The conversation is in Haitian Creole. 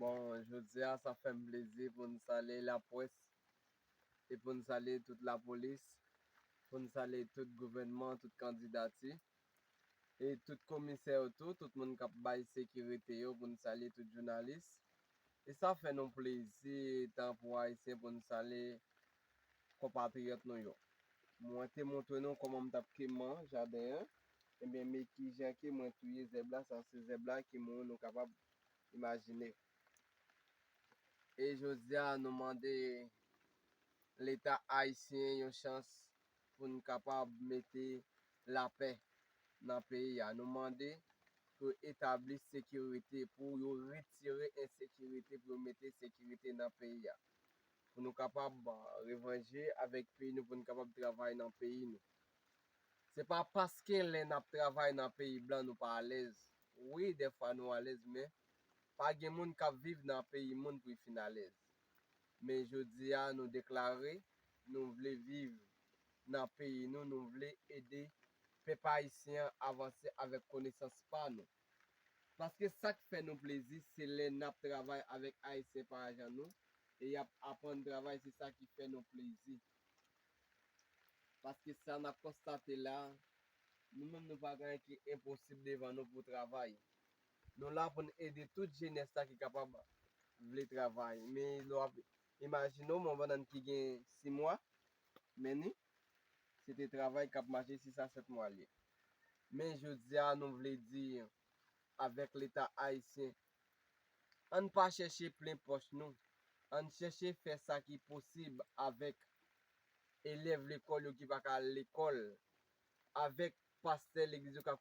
Bon jodi a sa fèm plezi pou n salye lapwès e pou n salye tout lapolis, pou n salye tout gouvènman, tout kandidati e tout komisè yo tou, tout moun k ap bay sekirite yo, pou n salye tout jounalis e sa fè nou plezi etan pou Ayisyen pou n salye konpatriyòt nou yo. Mwen te montre nou kòman m t ap keman jaden an, ebyen me ki jan ke mwen touye zèb la, sa se zèb la ki mouri nou kapab imajine. E jodi a nou mande leta ayisyen yon chans pou n kapab mete lapè nan peyi a. Nou mande pou yo etabli sekirite, pou yo retire ensekirite, pou yo mete sekirite nan peyi a. pou nou kapab revanje avèk peyi nou pou nou kapab travay nan peyi nou se pa paske lè nap travay nan peyi blan nou pa alèz wi dèfwa nou alèz men pa gen moun kap viv nan peyi moun pou y fin alèz men jodi a nou deklare nou vle viv nan peyi nou nou vle ede pèp ayisyen an avanse avèk konesans pa nou. Paske sak fè nou plezi se lè nap travay avèk ayisyen parajan nou e yap aprann travay se sa ki fè nou plezi paske sa nap konstate la nou menm nou pa gen anyen ki enposib devan nou pou travay nou la poun ede tout jenès la ki kapab vle travay men lè wap imajine w men yon bannann ki gen 6 mwa men li. se te travay k ap mache 6 a 7 mwa l ye. Men jodi a nou vle di avèk leta ayisyen an n pa chèche plen pòch nou, an n chèche fè sa ki posib avèk elèv lekòl yo ki pa ka al lekòl, avèk pastè legliz yo k ap.